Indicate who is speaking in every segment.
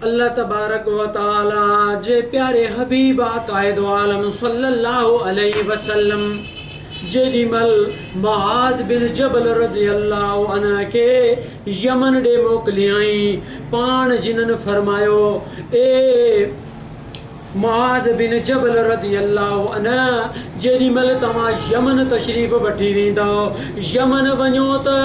Speaker 1: الله تبارڪ و تعاليٰ جي پياري حبيب قائد عالم صلّي اللّٰه عليه وسلّم جيڏي مھل معاذ بن جبل رضي اللّٰه عنه کي يمن ڏي موڪليائين پاڻ جنھن فرمايو، اي معاذ بن جبل رضي الله عنه جيڏي مھل توھان يمن تشريف وٺي ويندؤ، يمن وڃو ته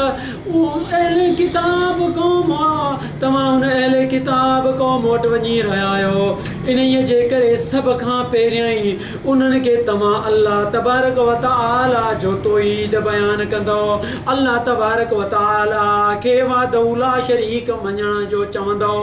Speaker 1: اھل ڪتاب قوم آ، توھان ان اھل ڪتاب قوم وٽ وڃي رھيا آھيو، انھيء جي ڪري سڀ کان پھريائين انھن کي توھان الله تبارڪ و تعالي جو توحيد بيان ڪندؤ، الله تبارڪ و تعالي کي وحده لا شريڪ مڃڻ جو چوندؤ،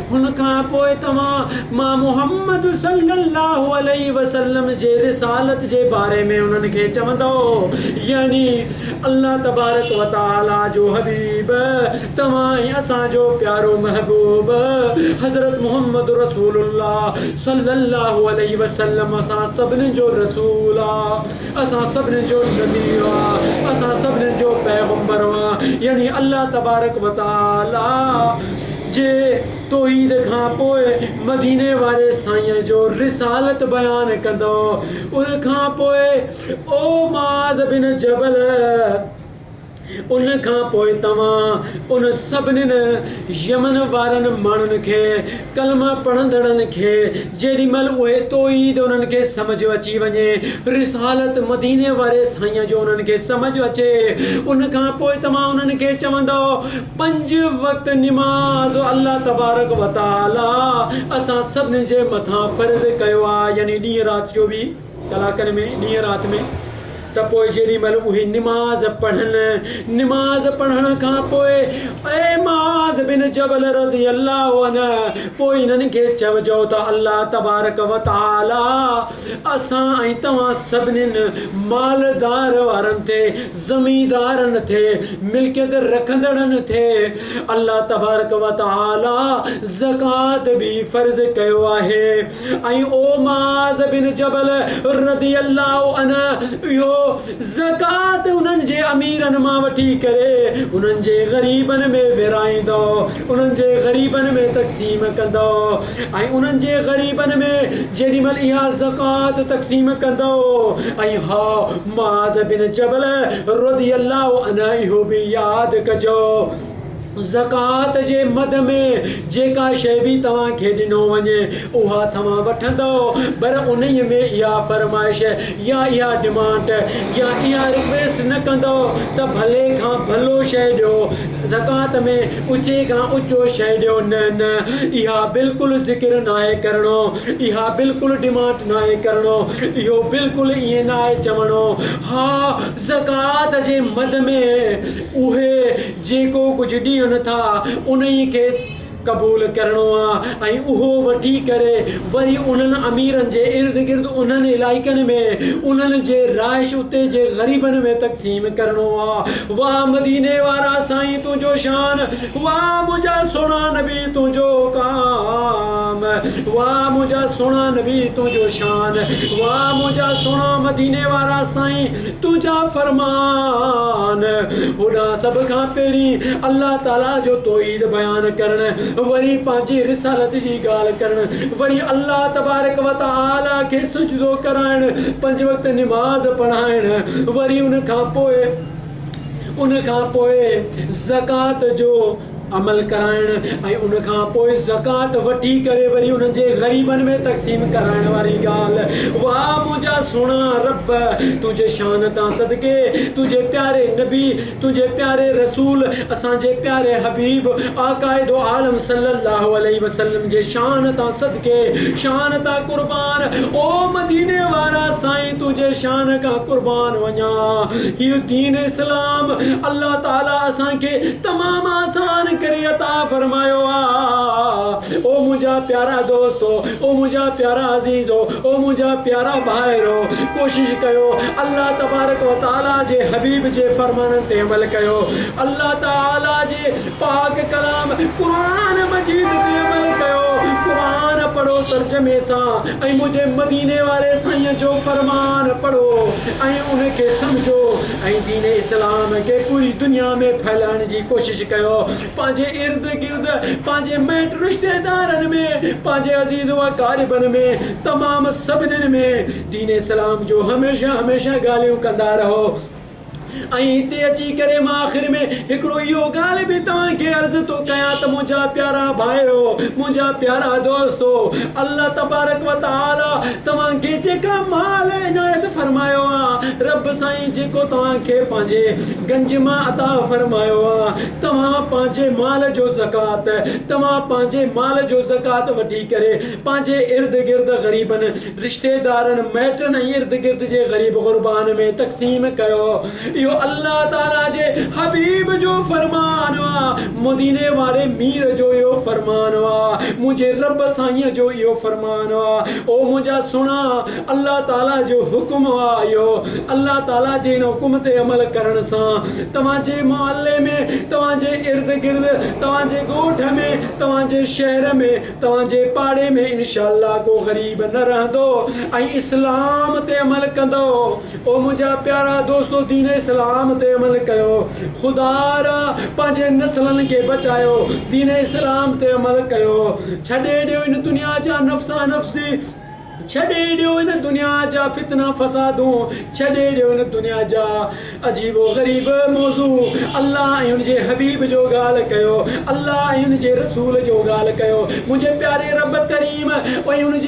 Speaker 1: ان کان پوء توهان مان محمد صلّي اللّٰه عليه وسلّم جي رسالت جي باري ۾ انهن کي چوندؤ، يعني الله تبارڪ و تعاليٰ جو حبيب، توهان ۽ اسان جو پيارو محبوب، حضرت محمد رسول الله صلّي اللّٰه عليه وسلّم اسان سڀني جو رسول آ، اسان سڀني جو نبي آ، اسان سڀني جو پيغمبر آ، يعني الله تبارڪ و تعاليٰ جي توحيد کان پوء مديني واري سائينء جو رسالت بيان ڪندو ان کان پوء او معاذ بن جبل ان کان پوء توهان ان سڀنين يمن وارن ماڻهن کي ڪلمه پڙهندڙن کي جيڏي مهل اهي توحيد انهن کي سمجهه اچي وڃي رسالت مديني واري سائينء جو انهن کي سمجهه اچي ان کان پوء توهان انهن کي چوندؤ پنج وقت نماز الله تبارڪ و تعاليٰ اسان سڀني جي مٿان فرض ڪيو آ يعني ڏينهن رات چوويهه ڪلاڪن ۾ ڏينهن رات ۾ ته پوء جيڏي مهل اهي نماز پڙهن نماز پڙهڻ کان پوء اي معاذ بن جبل رضي الله عنه پوء انهن کي چئجو ته الله تبارڪ و تعاليٰ اسان ۽ توهان سڀنين مالدار وارن تي، زميندارن تي، ملڪيت رکندڙن تي الله تبارڪ و تعالي زڪوات به فرض ڪيو آهي ۽ او معاذ بن جبل رضي الله عنه اهو زڪوات انهن جي اميرن مان وٺي ڪري انهن جي غريبن ۾ ورهائيندؤ، انهن جي غريبن ۾ تقسيم ڪندؤ. ۽ انهن جي غريبن ۾ جيڏي مهل اها زڪوات تقسيم ڪندؤ ۽ هاء معاذ بن جبل رضي الله عنه اهو به ياد ڪجو زڪوات جي مد ۾ جيڪا شيء به توهان کي ڏنو وڃي اها توهان وٺندؤ پر انهيء ۾ اها فرمائش يا اها ڊمانڊ يا اها رڪويسٽ نه ڪندؤ ته ڀلي کان ڀلو شيء ڏيو زڪوات ۾ اچي کان اچو شيء ڏيو نه نه اها بلڪل ذڪر ناهي ڪرڻو اها بلڪل ڊمانڊ ناهي ڪرڻو اهو بلڪل ائين ناهي چوڻو ها زڪوات جي مد ۾ اهي جيڪو ڪجهه ڏين ٿا انهي کي قبول ڪرڻو آهي ۽ اهو وٺي ڪري وري انهن اميرن جي ارد گرد انهن علائقن ۾ انهن جي رهائش اتي جي غريبن ۾ تقسيم ڪرڻو آ. واھ مديني وارا سائين تنهنجو شان واھ منهنجا سهڻا نبي تنهنجو حڪام واھ منهنجا سهڻا نبي تنهنجو شان واھ منهنجا سهڻا مديني وارا سائين. تنهنجا فرمان، هوڏانهن سڀ کان پهرين الله تعاليٰ جو توحيد بيان ڪرڻ، وري پنهنجي رسالت جي ڳالهه ڪرڻ، وري الله تبارڪ و تعاليٰ کي سجدو ڪرائڻ، پنج وقت نماز پڙهائڻ، وري ان کان پوء ان کان پوء زڪوات جو عمل ڪرائڻ ۽ ان کان پوء زڪوات وٺي ڪري وري انهن جي غريبن ۾ تقسيم ڪرائڻ واري ڳالهه، واء منهنجا سهڻا ربّ! تنهنجي شان تان صدقي، تنهنجي پياري نبي، تنهنجي پياري رسول، اسان جي پياري حبيب آقاء دو عالم صلّي اللّٰه عليه وسلّم جي شان تان صدقي، شان تان قربان، او مديني وارا سائين! تنهنجي شان کان قربان وڃان. هي دين اسلام الله تعالي اسان کي تمام آسان ڪري عطا فرمايو آ. او منهنجا پيارا دوستو، او منهنجا پيارا عزيزو، او منهنجا پيارا ڀائرو! ڪوشش ڪيو الله تبارڪ و تعالي جي حبيب جي فرمانن تي عمل ڪيو. الله تعالي جي پاڪ ڪلام قرآن مجيد تي عمل ڪيو. قرآن پڙهو ترجمي سان. ۽ منهنجي مديني واري سائين جو فرمان پڙهو ۽ ان کي سمجهو ۽ دين اسلام کي پوري دنيا ۾ ڦهلائڻ جي ڪوشش ڪيو پنهنجي ارد گرد پنهنجي ميٽ رشتيدارن ۾ پنهنجي عزيز واقاربن ۾ تمام سڀنن ۾ دين اسلام جو هميشه هميشه ڳالهيون ڪندا رهو ۽ هتي اچي ڪري مان آخر ۾ هڪڙو اهو ڳالهه به توهان کي عرض ٿو ڪيان ته منهنجا پيارا ڀائرو، منهنجا پيارا دوستو، الله تبارڪ و تعالي توهان کي جيڪا مال عنايت فرمايو آ، رب سائين جيڪو توهان کي پنهنجي گنج مان عطا فرمايو آ، توهان پنهنجي مال جو زڪوات، توهان پنهنجي مال جو زڪوات وٺي ڪري پنهنجي ارد گرد غريبن، رشتيدارن، مائٽن ۽ ارد گرد جي غريب غربان ۾ تقسيم ڪيو. اهو الله تعاليٰ جي حبيب جو فرمان آ. مديني واري مير جو اهو فرمان آ. منهنجي رب سائينء جو اهو فرمان آ. او منهنجا سهڻا! الله تعاليٰ جو حڪم آ اهو. الله تعاليٰ جي ان حڪم تي عمل ڪرڻ سان توهان جي محلي ۾، توهان جي ارد گرد، توهان جي ڳوٺ ۾، توهان جي شهر ۾، توهان جي پاڙي ۾ انشاء الله ڪو غريب نه رهندو ۽ اسلام تي عمل ڪندو او منهنجا پيارا دوستو دين اسلام تي عمل ڪيو خدا را پنهنجي نسلن کي بچايو دين اسلام تي عمل ڪيو ڇڏي ڏيو ان دنيا جا نفسا نفسي ڇڏي ڏيو هن دنيا جا فتنا فسادون ڇڏي ڏيو هن دنيا جا عجيب و غريب موضوع الله ۽ ان جي حبيب جو ڳالهه ڪيو الله ۽ ان جي رسول جو ڳالهه ڪيو منهنجي پياري رب ڪريم ۽ ان جي